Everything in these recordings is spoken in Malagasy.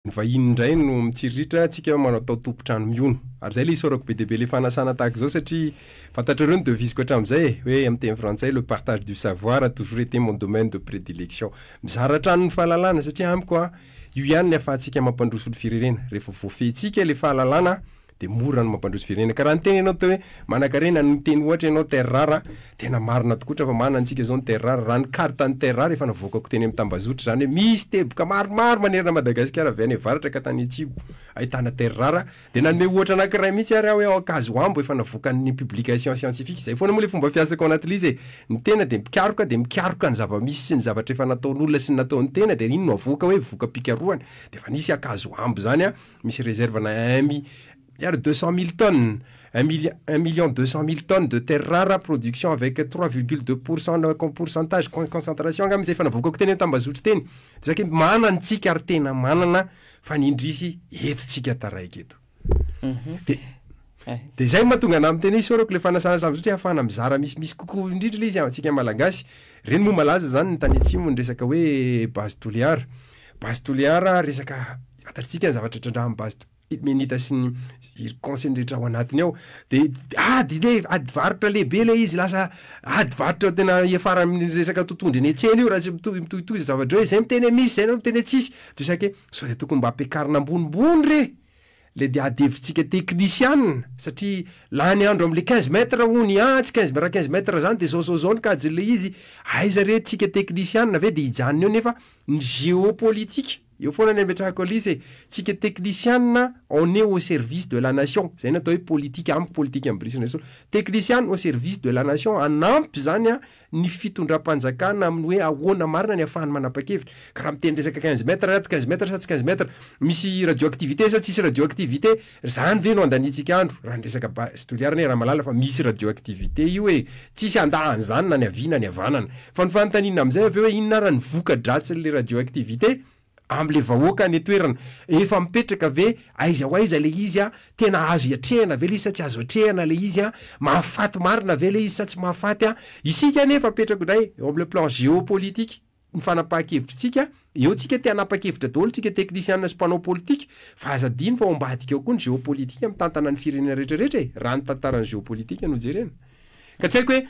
Ny vahiny indray no mitsiriritra, antsika no manao tompon-trano mihono. Ary izay ilay isaorako be dia be ilay fanasana tahaka izao satria fantatrareo ny devise-ko hatramin'izay e! hoe amin'ny teny frantsay le partage du savoir a toujours été mon domaine de prédilection. Mizara hatrany ny fahalalana satria amiko an, io ihany no ahafahantsika mampandroso ny firenena, rehefa voafehintsika ilay fahalalana an, dia mora ny mampandroso firenena. Ka raha niteny ianao teo hoe manakarena no niteny ohatra ianao terre rare a, tena marina tokoa ohatra fa manana antsika izao ny terre rare. Raha ny carte ny terre rare efa navoakako teny amin'ny tambazotra izany hoe misy teboka maromaro manerana Madagasikara avy any avaratra ka tany atsimo ahitana terre rare dia nanome ohatra anankiray mihitsy ary aho hoe ao Ankazoambo efa navoakan'ny publication scientifique. Izay foana moa ilay fomba fiasako ao anatin'ilay izy e. Ny tena dia mpikaroka dia mikaroka ny zava-misy sy ny zavatra efa nataon'olona sy ny nataon'ny tena dia iny no avoaka hoe voka-pikarohana. Dia efa nisy Ankazoambo izany a, Misy réserve na un mi liard deux cent mille tonnes, un milli- un million deux cent mille tonnes de terres rares, production avec trois virgule deux pour cent na com- pourcentage con- concentration angamba izay efa navoakako teny an-tambazotry teny. Izay ke manana antsika ary tena manana fa ny indrisy eto tsika taraiky eto. Dia Eh. dia izay no mahatonga anah miteny hoe isaorako ilay fanasana sambazotry hahafahana mizara misimisy kokoa indrindra ilay izy amintsika Malagasy. Ireny moa malaza izany ny tany atsimo ny resaka hoe base Toliara. Base Toliara resaka Fantatsika ny zavatra trandrahan'ny base de Menita sy ny iry conseil rehetra ao anatiny ao de ady le ady varotra lehibe le izy lasa ady varotra tena iafara amin'ny resaka totondry eny an-tsena io raha tsy mitohy mitohitohy zay zavatra hoe zay no tena misy zay no tena tsisy de saika hoe sao de tokony mba ampiakarina ambonimbony re le de ady hevitsika teknisiana satria lany andro am'le quinze mètre hono ah tsy quinze raha quinze mètre zany de zao zao zao ny kajin'le izy aiza re tsika teknisiana ve de hijanona eo nefa ny géopolitique Eo foana ny ametrahako Alice e! Tsika teknisianina on est au service de la nation, zay no atao hoe politika amiko politika amin'i Brice Andriasoa. Teknisianina au service de la nation, hanampy zany ny fitondram-panjakana amin'ny hoe ahoana marina ny ahafahany manapa-kevitra. Ka raha miteny resaka quinze mètres ato, quinze mètres sa tsy quinze mètres, misy radioactivité sa tsisy radioactivité, Zany ve no andaniantsika andro raha ny resaka base sy toliara anie Ramalala fa misy radioactivité io e! Tsisy handa an'izany na ny havia na ny havanana. Fa ny fanontaniana amin'izay avy eo hoe inona ary ny voka-dratsin'ilay radioactivité amin'ilay vahoaka any an-toerana? Efa mipetraka ve aiza ho aiza ilay izy an? Tena azo iatrehana ve ilay izy sa tsy azo atrehana ilay izy an? Mahafaty marina ve ilay izy sa tsy mahafaty an? Isika anie efa apetrako indray eo amin'ilay plan géopolitique. ny fanapahan-kevitritsika, eo tsika te hanapa-kevitra daholo tsika teknisiana sy mpanao politika, fa aza adino fa ao ambadika ao koa ny geopolitika mitantana ny firenena rehetrarehetra e, raha ny tantaran'ny geopolitika no jerena. Ka tsy haiko hoe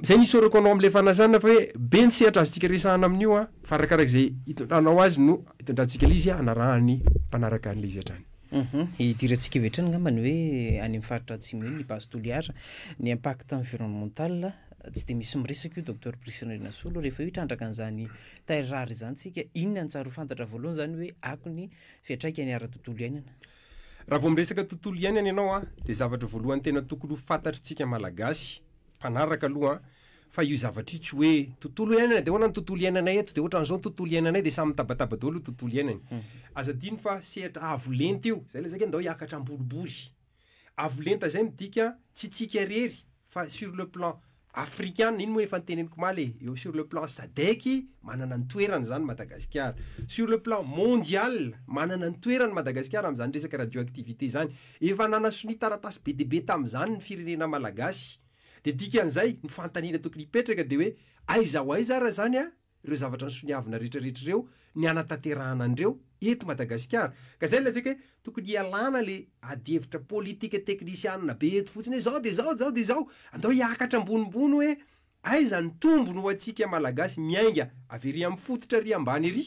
izay no isaorako anao amin'ilay fanazana fa hoe be ny sehatra azontsika resahana amin'io an, fa arakaraka izay hitondranao azy no hitondrantsika ilay izy hanarahan'ny mpanaraka an'ilay izy hatrany. Hidirantsika avy hatrany angambany hoe any amin'ny faritra Atsimo iny ny base Toliara, ny impact environnemental Tsy dia misy miresaka io Docteur Brice Rinasolo rehefa io hitrandraka an'izany taille rare izany tsika, inona no tsary ho fantatra voalohany izany hoe akony fiantraikany ara-tontolo iainana? Raha vao miresaka tontolo iainana ianao an, dia zavatra voalohany tena tokony ho fantatritsika Malagasy mpanaraka aloha an, fa io zavatra io tsy hoe tontolo iainana dia ahoana ny tontolo iainanay eto, dia ohatran'izao ny tontolo iainanay dia samy mitabataba daholo io tontolo iainany. Aza adino fa sehatra avo lenta io, izay ilay zaka hoe ndao hiakatra am-boribory. Avo lenta izay midika tsy tsika irery fa sur le plan afrikana, iny moa efa noteneniko omaly e, eo sur le plan sadec manana ny toerany izany Madagasikara, sur le plan mondial manana ny toerany Madagasikara amin'izany resaka radioactivité izany, efa nanasonia taratasy be dia be tamin'izany ny firenena malagasy, dia dikan'izay ny fanontaniana tokony hipetraka dia hoe aiza ho aiza ary izany an? ireo zavatra nisoniavina rehetra rehetra ireo ny hanatanterahana an'ireo eto Madagasikara. Ka izay no lazaiko hoe tokony hialana ilay adihevitra politika teknisianina be eto fotsiny hoe izao dia izao, izao dia izao. Andao hiakatra ambonimbony hoe aiza ny tombony ho antsika Malagasy miainga avy ery amin'ny fototra ery ambany ery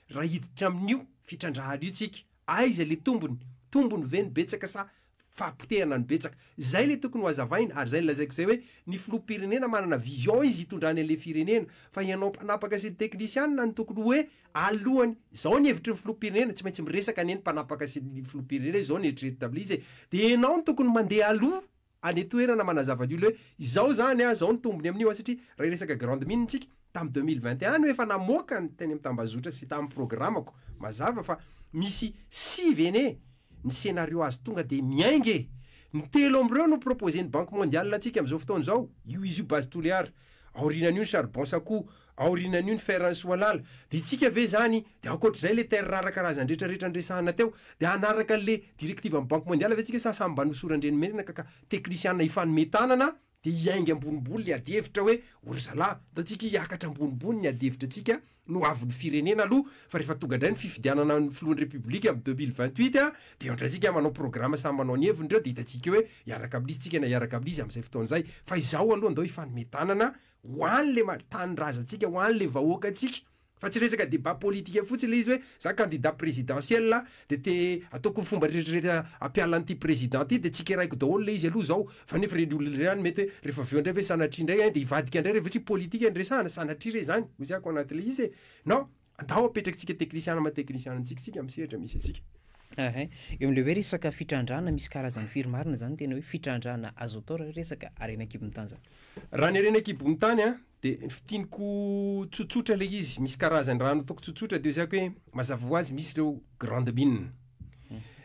raha hiditra amin'io fitrandrahana io tsika. Aiza ilay tombony? Tombony ve ny betsaka sa fahapotehana no betsaka. Zay le tokony ho azavaina ary zay nilazaiko zay hoe ny filoham-pirenena manana vision izy hitondrany anle firenena fa ianao mpanapaka sy ny teknisianina no tokony hoe alohany. Zao ny hevitry ny filoham-pirenena tsy maintsy miresaka anie ny mpanapaka sy ny filoham-pirenena izao ny eritreritry tamle izy e. De ianao no tokony mandeha aloha any toerana manazava ny olona hoe izao zany a, zao ny tombony amin'io a satria raha hiresaka grande mine tsika tam deux mille vingt et un no efa namoaka ny teny amin'ny tambazotra sy tam programme ko mazava fa misy sivy anie Ny scénario azo tonga dia miainga e! Ny telo amin'ireo no proposen'ny Banque Mondiale antsika amin'izao fotoana izao, io izy io Base Toliara, aorianan'io ny Charbon Sakou, aorianan'io ny Fer Ansohialala. Dia isika ve izany, dia ankoatr'izay ilay terres rares karazany rehetra rehetra niresahana teo, dia hanaraka an'ilay directives an'ny Banque Mondiale ve isika sa samy mba nosoran-dRenimenina ka ka teknisiana hifanome tanana dia hiainga ambonimbony ilay adihevitra hoe ory zalahy, ntantsika hiakatra ambonimbony ny adihevitra antsika no ho avin'ny firenena aloha fa rehefa tonga indray ny fifidianana ny filohan'ny Repoblika amin'ny deux mille vingt huit dia eo indray tsika manao programa samy manao ny heviny ireo dia hitantsika hoe hiaraka amin'izy tsika na hiaraka amin'izy amin'izay fotoana izay fa izao aloha andao hifanome tanana ho an'ilay tanindrazantsika ho an'ilay vahoakantsika Fa tsy resaka débat politique fotsiny le izy hoe za candidat présidentiel de te ataoko ny fomba rehetrarehetra ampiala an'ity président ty de tsikeraiko daholo le izy aloha zao fa nefa reny olona reny mety hoe refa avy eo ndray ve sanatria ndray ein de hivadika ndray refa tsy politique no resahana sanatria re zany hoy za ko anaty le izy e non andaho apetrakintsika teknisiana ma teknisiana antsika isika am sehatra misy antsika. Ahh eo amle hoe resaka fitrandrahana misy karazany firy marina zany tena hoe fitrandrahana azo atao ra resaka harena an-kibon'ny tany zany? Raha ny harena an-kibon'ny tany an, De ny fintiniko tsotsotra ilay izy, misy karazany raha nataoko tsotsotra de ezahiko hoe mazava ho azy misy ireo grande mine.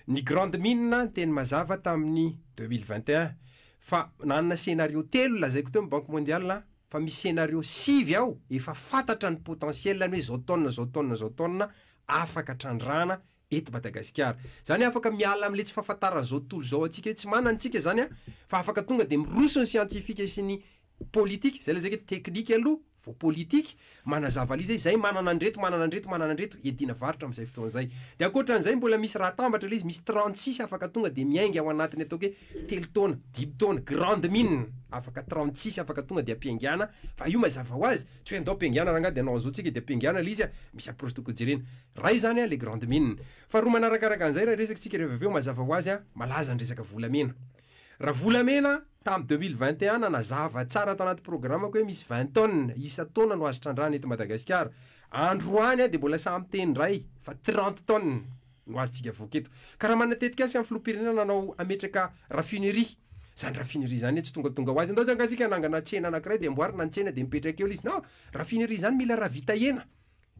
Ny grande mine ny teny mazava tamin'ny deux mille vingt et un fa nanana scenario telo lazaiko teo ny banque mondiale a, fa misy scenario sivy ao efa fantatra ny potentiel-ny hoe zao taona zao taona zao taona afaka trandrahana eto Madagasikara. Zany afaka miala amle tsy fahafantaran zao tontolo zao antsika hoe tsy manana tsika zany a, fa afaka tonga de miroso ny siantifika sy ny politika, zay lazaiko hoe teknika aloha vao politika, manazava liza izay manana andreto manana andreto manana andreto hiadiana varotra amzay fotoana zay. De ankoatranzay mbola misy raha atambatra le izy misy trente six afaka tonga de miainga ao anatiny ataoko hoe telo taona, dimy taona, grande mine afaka trente six afaka tonga de ampiaingana fa io mazava hoazy tsy hoe andao ampiaingana rangahy de anao anzao tsika de ampiaingana le izy a, misy approche tokony jerena. Ray izany an le grande mine. Faharoa manarakaraka an'izay raha resakitsika ireo avy avy eo mazava ho azy an malaza ny resaka volamena. Raha volamena tam deux mille vingt et un nanazava tsara tanaty programako hoe misy vingt tonnes isan-taona no azo trandrahana eto Madagasikara. Androany an dia mbola sahy miteny indray fa trente tonnes no azontsika avoaka eto. Ka raha manana tetikasa an filoham-pirenena nanao hametraka raffinerie. Izany raffinerie izany anie tsy tongatonga ho azy. Ndao tsy angaha isika hanangana tsena anankiray dia amboarina ny tsena dia mipetraka eo le izy. Non! Raffinerie izany mila ravitahena.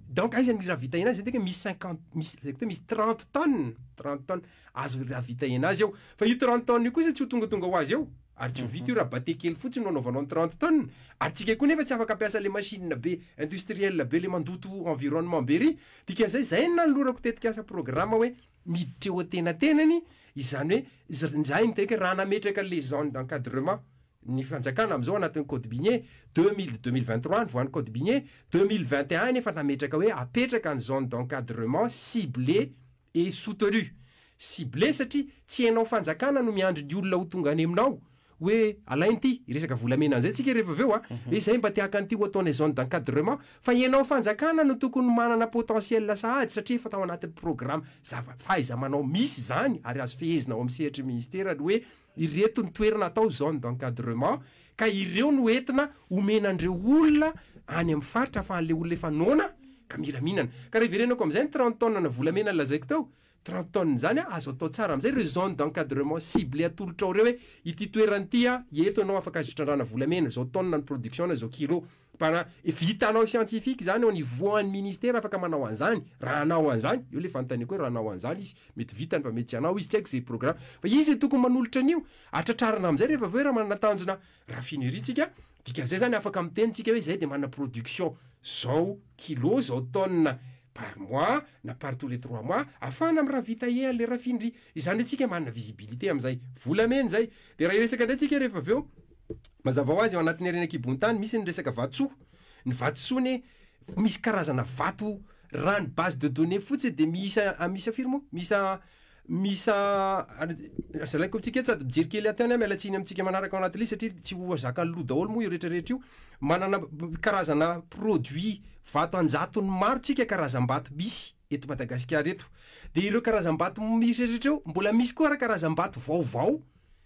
Donc aiza ny rahavita enazy zany tena misy cinquante misy zay koa misy trente tonnes trente tonnes azo rahavita enazy eo fa io trente tonnes io kosa tsy ho tongatonga ho azy eo ary tsy ho vita io raha bate kely fotsiny no anaovanao ny trente tonnes ary tsika koa nefa tsy afaka ampiasa le machine be industriel be le mandoto environnement be ry dikan'izay zay no nanolorako tetikasa programa hoe miditra eo antenatenany izany hoe za- izahay midika hoe raha nametraka le zone d'encadrement ny fanjakana amin'izao anatin'ny code minier deux mille, deux mille vingt trois no voan'ny code minier, deux mille vingt et un nefa nametraka hoe apetraka ny zone d'encadrement ciblé et soutenu, ciblé satria tsy ianao fanjakana no miandry ny olona ho tonga any aminao hoe alaina ity, hiresaka volamena an'izay tsika rehefa avy eo an, hoe izay mba te haka an'ity ho ataonay zone d'encadrement, fa ianao fanjakana no tokony manana potentiel sahady satria efa tao anatin'ny programme zava, fahaiza-manao misy izany ary azo fehezina ao amin'ny sehatry ny ministera ny hoe, Ireto ny toerana atao zone d'encadrement ka ireo no entina omena an'ireo olona any amin'ny faritra fa an'ilay olona efa noana ka mila mihinana. Ka raha iverenako amin'izay ny trente tonnes na volamena nolazaiko teo, trente tonnes izany azo atao tsara amin'izay ireo zones d'encadrement ciblées atolotrao ireo hoe ity toerana ity, eto ianao afaka azo itrandrahana volamena, izao tonnes ny production na izao kilos. Para, vitanao scientifique zany au niveau an'ny ministera afaka manao an'zany, raha hanao an'zany, eo le fanontaniako hoe raha hanao an'zany izy, mety vitany fa mety tsy hanao izy, tsy haiko ze programme, fa izy tokony manolotra an'io, atratrarina am'zay rehefa avy eo raha manana tanjona raffinerie tsika, dikan'zay zany afaka miteny tsika hoe zay de manana production zao kilo, zao tonne par mois na par tous les trois mois, afahana am raha vita ea le raffinerie, izany hoe tsika manana visibilité am'zay, volamena zay, de raha hiresaka ndray tsika rehefa avy eo, Mazava ho azy, ao anatin'ny harena an-kibohontany, misy ny resaka vatosoa. Ny vatosoa anie, misy karazana vato, raha ny base de données fotsiny dia miisa miisa firy moa? Miisa miisa zalaiko amintsika eto sady mijery kely aty any aho, miala tsiny amintsika manaraka ao anaty lisy satria tsy ho zakan'ny loha daholo moa io rehetrarehetra io. Manana karazana produit vato an-jatony maro tsika karazam-bato misy. eto Madagasikara eto. Dia ireo karazam-bato misy rehetra eo, mbola misy koa ary karazam-bato vaovao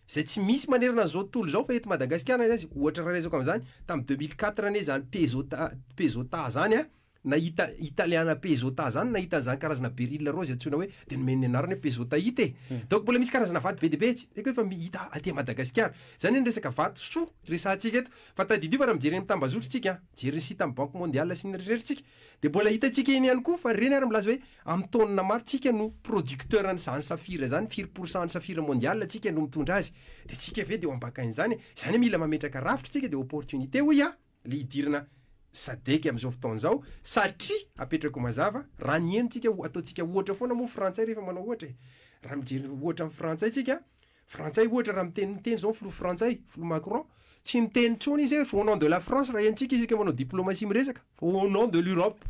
izay tsy misy manerana an'izao tontolo izao fa eto Madagasikara na aiza aiza, ohatra raraisako amin'izany, tamin'ny deux mille quatre anie izany Pezota Pezota izany an, nahita Italiana Pezota izany nahita an'izany karazana beryl rozy antsoina hoe, dia nomeny ny anarana hoe Pezotaite e! donc mbola misy karazana vato be dia be tsy haiko hoe efa hita aty Madagasikara. Izany ny resaka vatosoa resahantsika eto. Fa tadidio fa raha mijery eny amin'ny tambazotrantsika an, mijery ny site amin'ny banque mondiale sy ny eritreretintsika, Dia mbola hitantsika eny ihany koa fa ireny ary milaza hoe amin'ny taonina maro tsika no producteur an'izany safira izany, firy pour cent an'ny safira mondial tsika no mitondra azy, dia tsika ve dia ho ambakain'izany e? Izany hoe mila mametraka rafitra tsika dia opportunité hoy aho le hidirana sadec amin'izao fotoana izao satria apetrako mazava raha ny eny tsika ataontsika ohatra foana moa ny frantsay rehefa manao ohatra e, raha mijery ohatra ny frantsay tsika Frantsay ohatra raha miteny miteny izao ny filoha frantsay, filoha Macron, tsy miteny intsony izy hoe au nom de la France raha henontsika isika manao diplomatie miresaka fa au nom de l'Europe,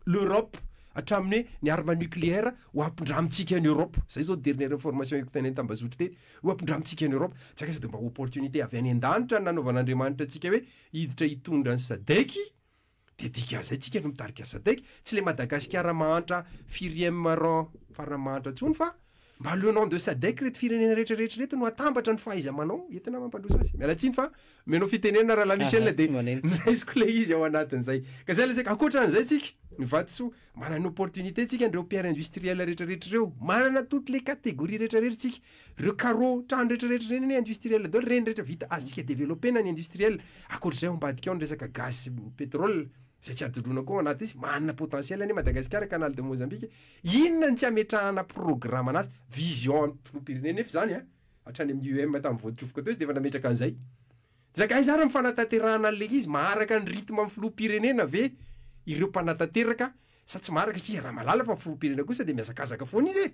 l'Europe hatramin'ny hoe ny arme nucléaire ho ampindramintsika any Europe, izay izao dernière information hitako teny an-tambazotry teny, ho ampindramintsika any Europe, tsy akaiza dia mba opportunité avy any an-danitra no nanaovan'Andriamanitra antsika hoe hiditra hitondra ny Sadec, Dia dikan'izay tsika no mitarika Sadec, tsy le Madagasikara mahantra firième rang farany mahantra intsony fa mba le nom de Sadec reto firenena retraretra reto no atambatra ny fahaizamanao entina mampandroso azy. Miala tsiny fa omenao fitenenana Rahalahy Michel dia noraisiko le izy ao anatin'izay. Ka zay le saika, ankoatran'izay tsika, ny vatosoa, Manana opportunité tsika ndreo pierre industriel rehetra rehetra reo, manana toutes les catégories rehetra rehetra tsika, reo carreaux trano rehetra rehetra reny anie industriel daholo, reny rehetra vita, azontsika developper na ny industriel, akoatr'izay ao ambadika ao ny resaka gaz sy pétrole, zay tsy hadondrona koa ao anaty izy, manana potentiel anie Madagasikara canal de Mozambique, inona ny tsy ametrahana programme anazy, vision filoham-pirenena efa izany an, hatrany amin'ny UEM tamin'ny voadrofoka teo izy dia efa nametraka an'izay. Jagaiza ary ny fanatanterahana an'ilay izy? Maharaka ny rythme ny filoham-pirenena ve ireo mpanatanteraka sa tsy maharaka? Satria iaraha mahalala fa ny filoham-pirenena kosa dia mihazakazaka foana izy e!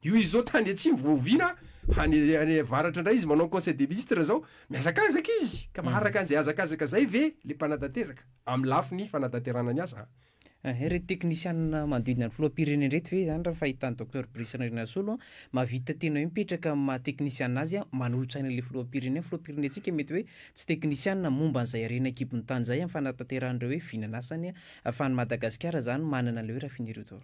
Io izy izao tany atsimo vao oviana any any avaratra indray izy manao ny conseil des ministres izao, mihazakazaka izy! Ka maharaka an'izay hazakazaka izay ve ilay mpanatanteraka amin'ny lafiny fanatanterahana ny asa? Ehe, ireto teknisianina manodidina ny filoham-pirenena ireto ve izany raha ny fahitan'i Docteur Brice Randrianasolo an, mahavita tena hoe mipetraka amin'ny maha teknisianina azy an, manolo-tsaina ilay filoham-pirenena, ny filoham-pirenentsika mety hoe tsy teknisianina momba an'izay harena an-kibon'ny tany izay amin'ny fanatanterahan'ireo hoe vinan'asany an, fa an'i Madagasikara izany manana ilay hoe raffinerie d'or.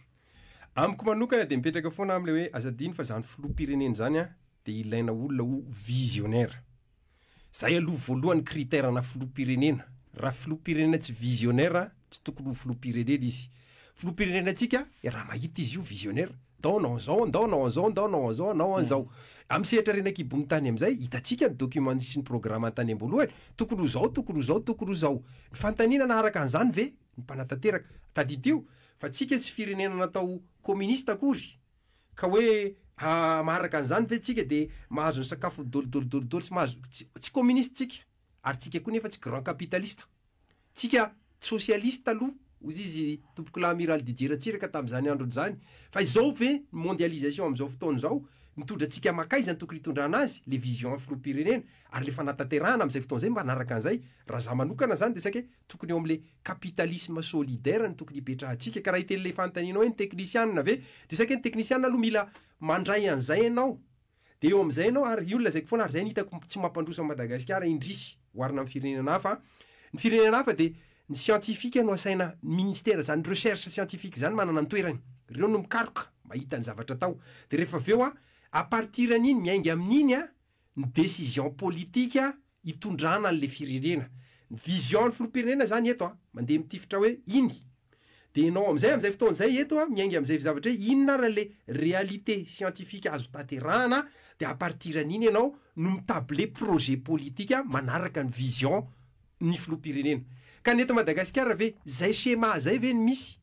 Amiko manokana dia mipetraka foana amin'ilay hoe aza adino fa izany filoham-pirenena izany an, Dia ilaina olona ho visionnaire. Zay aloha voalohany critère na filoham-pirenena. Raha filoham-pirenena tsy visionnaire tsy tokony ho filoham-pirenena izy. Filoham-pirenena antsika i Ramahita izy io visionnaire. Ndao hanao an'izao, ndao hanao an'izao, ndao hanao an'izao, hanao an'izao. Amin'ny sehatra harena an-kibon'ny tany amin'izay, hitantsika ny documents sy ny programmes tany am-boalohany, tokony ho izao, tokony ho izao, tokony ho izao. Ny fanontaniana naharaka an'izany ve ny mpanatanteraka? Tadidio fa tsika tsy firenena natao communiste akory. Ka hoe maharaka an'izany ve tsika dia mahazo ny sakafo dolidolidolidoly sy mahazo tsy communiste tsika ary tsika koa nefa tsy grand capitaliste tsika socialiste aloha ozy izy tompokolahy amiral Didier Ratsiraka tamin'izany androny izany fa izao ve ny mondialisation amin'izao fotoana izao mitondra antsika makaiza ny tokony hitondrana azy le vision filoham-pirenena ary le fanatanterahana amin'izay fotoana izay mba hanaraka an'izay raha za manokana izany dia saika hoe Tokony eo amin'ilay capitalisme solidaire no tokony hipetrahantsika ka raha hiteny ilay fanontanianao hoe ny teknisianina ve dia saika ny teknisianina aloha mila mandray an'izay ianao dia eo amin'izay ianao ary io no lazaiko foana ary izay no hitako tsy mampandroso an'i Madagasikara indrisy oharina amin'ny firenena hafa an, ny firenena hafa dia ny siantifika no asaina ny ministera izany recherche scientifique izany manana ny toerany, ireo no mikaroka mba hahita ny zavatra atao dia rehefa avy eo an à partir an'iny miainga amin'iny an ny décision politique hitondrana anle firenena. Ny vision ny filoham-pirenena zany eto a, mandeha mitifitra hoe iny. Dia enao amizay amizay fotoana zay eto a, miainga amizay zavatra hoe inona ary le réalité scientifique azo tanterahana dia à partir an'iny enao no mi-tabler projet politika manaraka ny vision ny filoham-pirenena. Ka ny eto Madagasikara ve zay schéma zay ve no misy?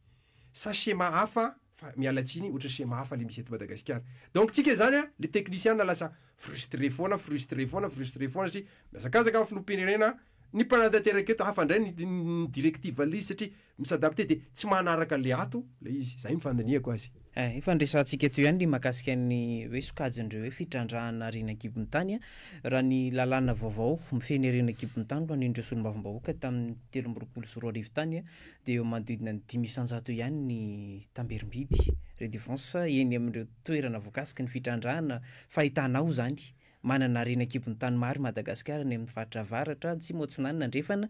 Sa schéma hafa fa miala tsiny ohatra schéma hafa le misy eto Madagasikara. Donc tsika zany a le teknisiana lasa frustré foana frustré foana frustré foana satria mihazakazaka ny filoham-pirenena ny mpanatanteraka eto hafa ndray ny directive anle izy satria mi-s'adapter de tsy manaraka anle ato le izy. Zay ny fandinihako azy. Eh, efa andresantsika eto ihany ny mahakasika ny hoe sokajin'ireo hoe fitrandrahana harena an-kibon'ny tany a! Raha ny lalàna vaovao mifehy ny harena an-kibon'ny tany ho an'ireo solombavambahoaka tamin'ny telo amby roapolo sy roa arivo tany dia eo amin'ny manodidina ny dimy isan-jato ihany ny tamberim-bidy, redevance, eny amin'ireo toerana voakasiky ny fitrandrahana fa hitanao izany, manana harena an-kibon'ny tany maro i Madagasikara any amin'ny faritra avaratra, atsimo, atsinanana, andrefana,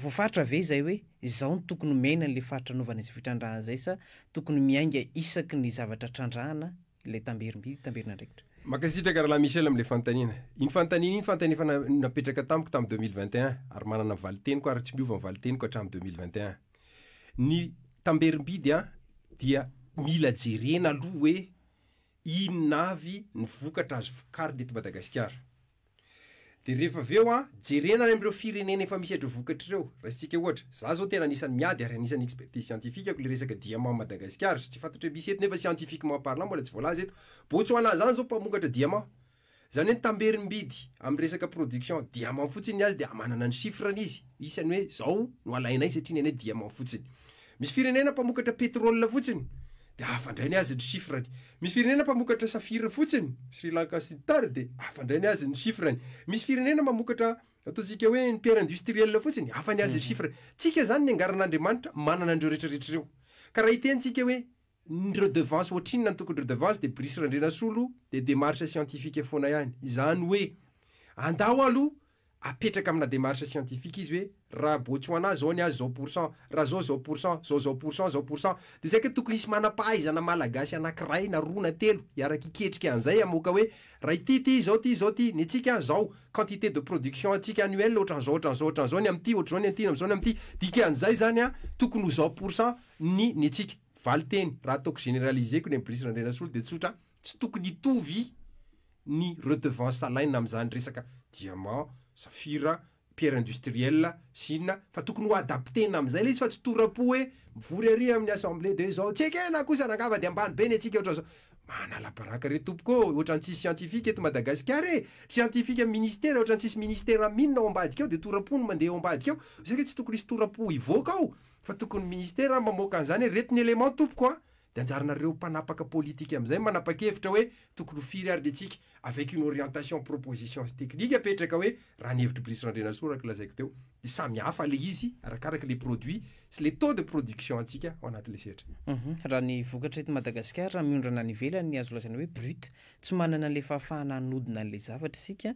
voafaritra ve izay hoe izao no tokony omena an'ilay faritra anaovana izay fitrandrahana izay sa tokony miainga isaky ny zavatra trandrahana? ilay tamberim-by, tamberin'andraikitra. Mankasitraka Rahalahy Michel amin'ilay fanontaniana. Iny fanontaniana iny fanontaniana efa na- napetraka tamiko tamin'ny 2021, ary manana ny valinteniko ary tsy miova ny valinteniko hatramin'ny 2021. Ny tamberim-by dia dia mila jerena aloha hoe inona avy ny vokatra azo vokarina eto Madagasikara. Dia rehefa avy eo an, jerena any amin'ireo firenena efa misy ireo vokatra ireo. Raisintsika ohatra, izaho izao tena anisan'ny miady ary anisan'ny expertise scientifique-ko ilay resaka diamant Madagasikara, tsy fantatro hoe misy eto nefa scientifiquement parlant mbola tsy voalaza eto. Botswana izany izao mpamokatra diamant. Izany hoe ny tamberin'bidy amin'ny resaka production diamant fotsiny ny azy dia manana ny chiffre-ny izy, isany hoe izao no alainay satria ny anay diamant fotsiny. Misy firenena mpamokatra pétrole fotsiny dia hafa indray ny azy ny chiffre-ny. Misy firenena mpamokatra safira fotsiny, Sri Lanka sy ny tariny dia hafa indray ny azy ny chiffre-ny. Misy firenena mamokatra ataontsika hoe ny pierre industrielle fotsiny, hafa ny azy ny chiffre-ny. Tsika izany niangaran'Andriamanitra manana an'ireo rehetrarehetra ireo. Ka raha hitentsika hoe ny redevance ohatrinona no tokony redevance dia Brice Randrianasolo dia démarche scientifique foana ihany. Izany hoe andao aloha apetraka amina démarche scientifique izy hoe raha Botswana zao ny azy zao pour cent, raha zao zao pour cent, zao zao pour cent, zao pour cent, de saika tokony hisy manam-pahaizana malagasy anakiray na roa na telo hiaraka hiketrika an'izay hamoaka hoe raha ity ity izao ity izao ity, ny antsika zao quantité de production antsika annuelle otran'izao otran'izao otran'izao ny amin'ity ohatr'izao ny an'ity ny amin'izao ny amin'ity, dikan'izay zany an tokony ho zao pour cent ny ny antsika. Valinteny, raha ataoko généraliser-ko ny an'i Brice Randrianasolo de tsotra, Tsy tokony hitovy ny redevance alaina amin'izany resaka diamant, safira, pierre industrielle, sina, fa tokony ho adapter-na amin'izay ilay izy fa tsy tora-po hoe mivory ary amin'ny assemblée dia izao, tsy ekena kosa na angamba dia ambany be ny antsika ohatran'izao. Manala baraka re tompoko ô, ohatran'ny tsisy scientifique eto Madagasikara e, scientifique amin'ny ministera ohatran'ny tsisy ministera am inona ao ambadika ao dia tora-po no mandeha ao ambadika ao, isika tsy tokony hisy tora-po hivoaka ao fa tokony ny ministera mamoaka an'izany hoe reto ny élément tompoko a! Dia anjaranareo mpanapaka politika amin'izay manapakevitra hoe tokony ho firy ary ny antsika, avec une orientation, proposition sy technique apetraka hoe raha ny hevitr'i Brice Randrianasoa araka ny lazaiko teo dia samy hafa ilay izy arakaraka ilay produit sy ilay taux de production antsika ao anatin'ilay sehatra. Uhum, raha ny vokatra eto Madagasikara raha miondrana any ivelany ny azo lazaina hoe brut, tsy manana an'ilay fahafahana hanodina an'ilay zavatra isika,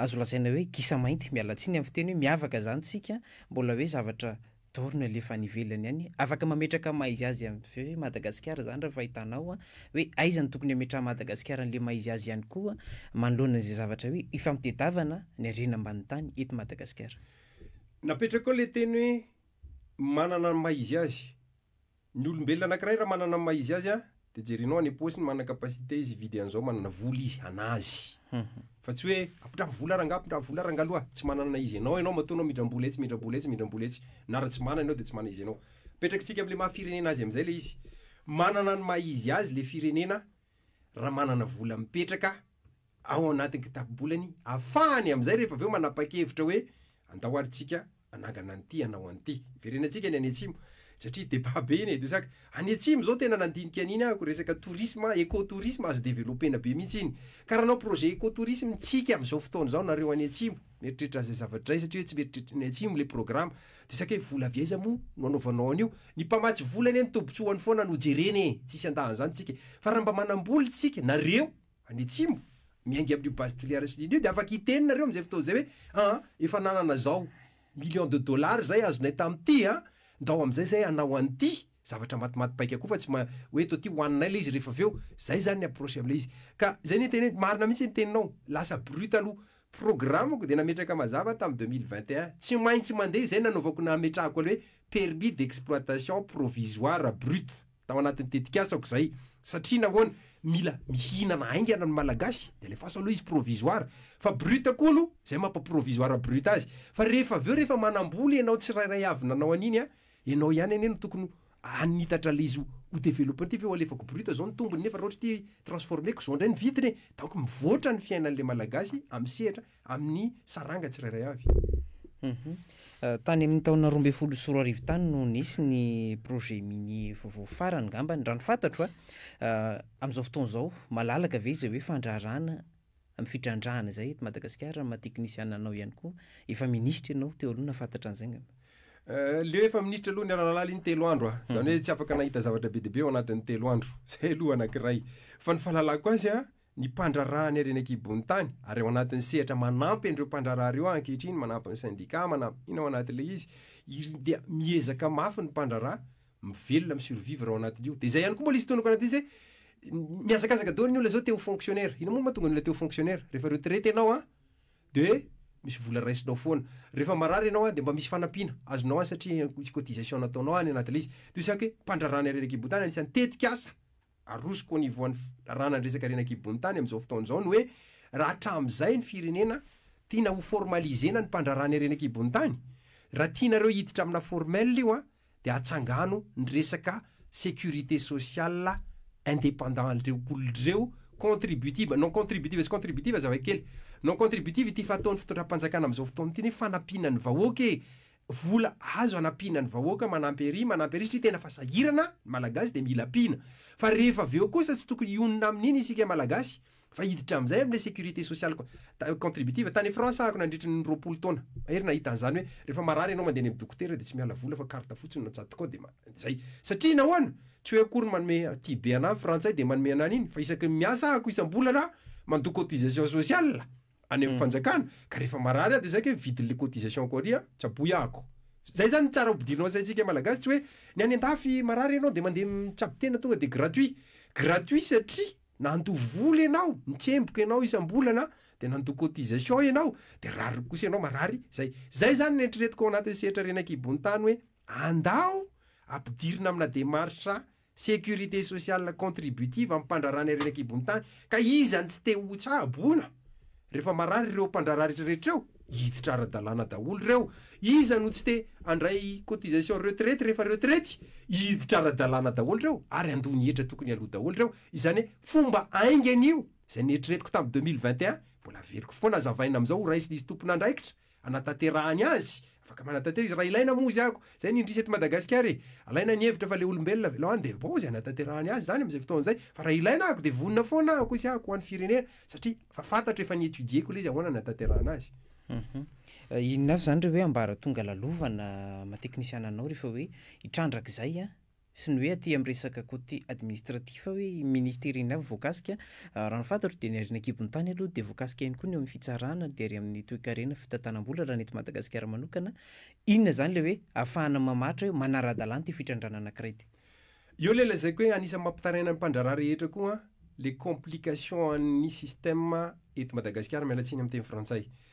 azo lazaina hoe gisa mainty, miala tsiny amin'ny fiteny hoe miavaka izany isika, mbola hoe zavatra dorina le fa any ivelany any afaka mametraka maizy azy avy eo Madagasikara zany raha fahitanao a hoe aiza no tokony ametraha Madagasikara anle maizy azy ihany koa manoloana izay zavatra hoe ifampitedavana ny harena ambany tany eto Madagasikara. Napetraka ao le teny hoe manana ny maizy azy. Ny olombelona anakiray raha manana ny maha izy azy a, de jerinao any am-paosiny manana capacité izy hividy an'izao, manana vola izy hanazy. Fa tsy hoe ampindrabo vola rangah, ampindrabo vola rangah loha, tsy manana na izy ianao ianao matoa ianao mindram-bola etsy mindram-bola etsy mindram-bola etsy, na raha tsy manana ianao de tsy manana izy ianao. Apetrakitsika am'le maha firenena azy am'zay le izy. Manana ny maha izy azy le firenena raha manana vola mipetraka ao anatin'ny kitapo-bolany ahafahany amin'izay rehefa avy eo manapa-kevitra hoe andao ary tsika hanangana an'ity hanao an'ity. Hiverenantsika ny any atsimo satria débat be iny e, de sac. Any atsimo zao tena nandinika an'iny aho ko resaka tourisme, éco-tourisme azo developpena be mihitsy iny. Ka raha hanao projet éco-tourisme tsika amin'izao fotoana izao nareo any atsimo, mieritreritra izay zavatra izay satria hoe tsy mieritreritra ny atsimo le programa. De sac hoe vola avy aiza moa no hanaovanao an'io? Ny mpamatsy vola anie ny tobotsoany foana no jerena e, tsisy andahan'izany tsika e. Fa raha mba manam-bola tsika, nareo, any atsimo, miainga amin'io base tiliaresiny iny io dia afaka hiteny nareo amin'izay fotoana izay hoe an, efa nanana izao millions de dollars zay azonay tamin'ity an, ndao amin'izay zay hanao an'ity, zavatra matimaty paika koa fa tsy ma, hoe eto aty hohaninay ilay izy rehefa avy eo, zay zany ny approche amin'ilay izy. Ka zay ny teneniko, marina mihintsy ny teninao, lasa brut aloha, programme-ko dia nametraka mazava aho tamin'ny deux mille vingt et un, tsy maintsy mandeha izay nanaovako nametrahako an'ilay hoe permis d'exploitation provisoire brut. tao anatin'ny tetikasako izay, satria nahoana? mila mihinana haingana ny Malagasy, dia alefaso aloha izy provisoire, fa brut koa aloha, izay mampa provisoire brut azy, fa rehefa avy eo rehefa manambola ianao tsirairay avy nanao an'iny an, ianao ihany anie no tokony hanitatra ilay izy ho developpe an'ity ve ho alefako brut izao ny tombony nefa raha ohatra ity transformer-ko izao indray ny vidiny e! donc mivoatra ny fiainan'ilay Malagasy amin'ny sehatra amin'ny saranga tsirairay avy. Tany amin'ny taona roa ambin'ny folo sy roa arivo tany no nisy ny projet minier vaovao farany ngambany, raha ny fantatro a. Amin'izao fotoana izao, malalaka ve izay hoe fandraharahana amin'ny fitrandrahana izay eto Madagasikara? Amin'ny maha teknisiana anao ihany koa, efa minisitra ianao teo aloha nahafantatra an'izay ngamba. Leo efa minisitra aloha ny Ralalala iny telo andro a, izany hoe tsy afaka nahita zavatra be dia be ao anatin'ny telo andro, izay aloha anankiray. Fa ny fahalalako azy a, ny mpandraharaha ny harena an-kibo'ny tany, ary ao anatin'ny sehatra manampy an'ireo mpandraharaha ireo aho ankehitriny, manampy ny syndicat, manampy inona ao anatin'ilay izy, irn dia miezaka mafy ny mpandraharaha, mivelona, mi-survivre ao anatin'io. Dia izay ihany koa mbola hisy tonoko anatin'izy hoe mihazakazaka daholo ny olona izao te ho fonctionnaire. Inona moa no mahatonga ny olona te ho fonctionnaire? Rehefa retraite ianao an, dia misy vola raisinao foana. Rehefa marary ianao an, dia mba misy fanampiana azonao any satria misy cotisation nataonao any anatin'ilay izy. Dia saika hoe mpandraharaha ny harena an-kibontany anisan'ny tetikasa. arosoko au niveau an'ny raha nandresaka ireny ankibon'ny tany amin'izao fotoana izao ny hoe raha hatramin'izay ny firenena tiana ho formaliser-na ny mpandrarana ireny ankibon'ny tany, raha tianareo hiditra amina formel io an, dia atsangano ny resaka sécurité sociale indépendant reo olon'ireo contributive, non contributive sy contributive zava-kely, non contributive ity fa ataon'ny fitondram-panjakana amin'izao fotoana ity ny hoe fanampiana ny vahoaka e, vola azo anampiana ny vahoaka manampy ery manampy ery satria tena fa sahirana ny malagasy dia mila ampiana fa rehefa avy eo kosa tsy tokony hionona amin'iny isika malagasy fa hiditra amin'izay amin'ilay sécurité sociale contributive tany France aho nandritra ny roapolo taona mahery nahita an'izany hoe rehefa marary ianao mandeha any amin'ny dokotera dia tsy miala vola fa carte fotsiny no atsatoka ao dia izay satria nahoana tsy hoe akory manome aty be anà ny frantsay dia manome anà an'iny fa isaky ny miasa aho isam-bolana aho mandoa cotisation sociale any amin'ny fanjakana ka rehefa marary aho dia saika hoe vidiny le cotisation ko ary tsy aboy ahako zay zany tsara ampidirina saintsika malagasy tsy hoe ny any andafy marary ianao dia mandeha mitsabo tena tonga dia gratuit gratuit satria nandoa vola ianao nitsemboka ianao isam-bolana dia nandoa cotisation ianao dia rariny kosa ianao marary zay zay zany ny eritreretiko ao anatin'ny sehatra ren'ankibon'ny tany hoe andao ampidirina amina démarche Sécurité sociale contributive amin'ny mpandraharahan'ny harena an-kibon'ny tany, ka iza no tsy te ho tsaboina? Rehefa marary ireo mpandraharaha rehetrarehetra ireo, hiditra ara-dalàna daholo ireo. Iza no tsy te handray cotisation retraite rehefa retraite? Hiditra ara-dalàna daholo ireo, ary handoa ny hetra tokony haloa daholo ireo. Izany hoe fomba haingana io. Izay neritreretiko tamin'ny deux mille vingt et un, mbola averiko foana hazavaina amin'izao ho raisin'izy tompon'andraikitra. hanatanterahany azy, afaka manatantera izy raha ilaina moa izy ako, zay ny indrisy eto Madagasikara e, alaina ny hevitra fa le olombelona avy aloha any dia bon izy hanatanterahany azy zany amin'izay fotoana izay, fa raha ilaina ako dia vonona foana ako izy ako ho an'ny firenena satria efa fantatro efa ni étudier-ko ilay izy ahoana hanatanterahana azy. Inona avy zany re hoe ambaratonga lalovana maha teknisiana anao rehefa hoe hitrandrak'izay an? sy ny hoe aty amin'ny resaka côté administratif hoe ministera inona avy voakasika, raha ny fantatro dia ny harena an-kibon'ny tany aloha dia voakasika ihany koa ny eo amin'ny fitsarana dia ary amin'ny toekarena, fitantanam-bola raha ny eto Madagasikara manokana, inona izany ilay hoe ahafahana mamaritra hoe manara-dalàna ity fitrandrahana anankiray ity? Eo ilay lazaiko hoe anisan'ny mampitaraina ny mpandraharaha rehetra koa an, ilay complication an'ny système eto Madagasikara, miala tsiny amin'ny teny frantsay.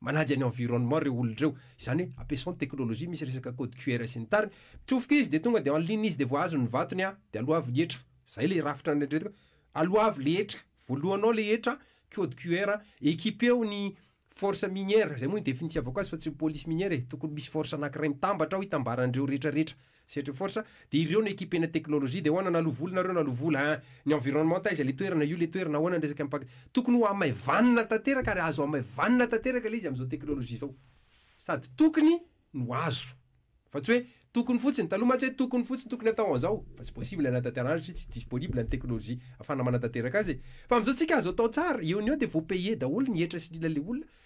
Manaja ny environnement ireo olona ireo. Izany hoe ampiasao ny technologie misy resaka code QR sy ny tariny. Mitsofoka izy dia tonga dia en ligne izy dia voahazo ny vatony an! Dia aloavy ny hetra. Izay ilay rafitra neritreretiko hoe aloavy ilay hetra. Voalohanao ilay hetra, code QR, equipeo ny force minière. Izay moa no idefinitiavako azy fa tsy ny police minière e. Tokony misy force anankiray mitambatra ao hitambaran'ireo retraretra. Sehatry ny force dia ireo no ekipena teknolojia dia ahoana na lo vola nareo na lo vola hein ny environnement taiza le toerana io le toerana ahoana ny resaka mipak tokony ho hamaivanina tanteraka ary azo hamaivanina tanteraka le izy amin'izao teknolojia izao sady tokony no azo fa tsy hoe tokony fotsiny taloha mantsy hoe tokony fotsiny tokony atao an'izao fa tsy possible hanatanterahana satria tsy disponible ny teknolojia afahana manatanteraka azy e fa amin'izao tsika azo atao tsara eo ny eo dia voapayer daholo ny hetra sy ny ila le olona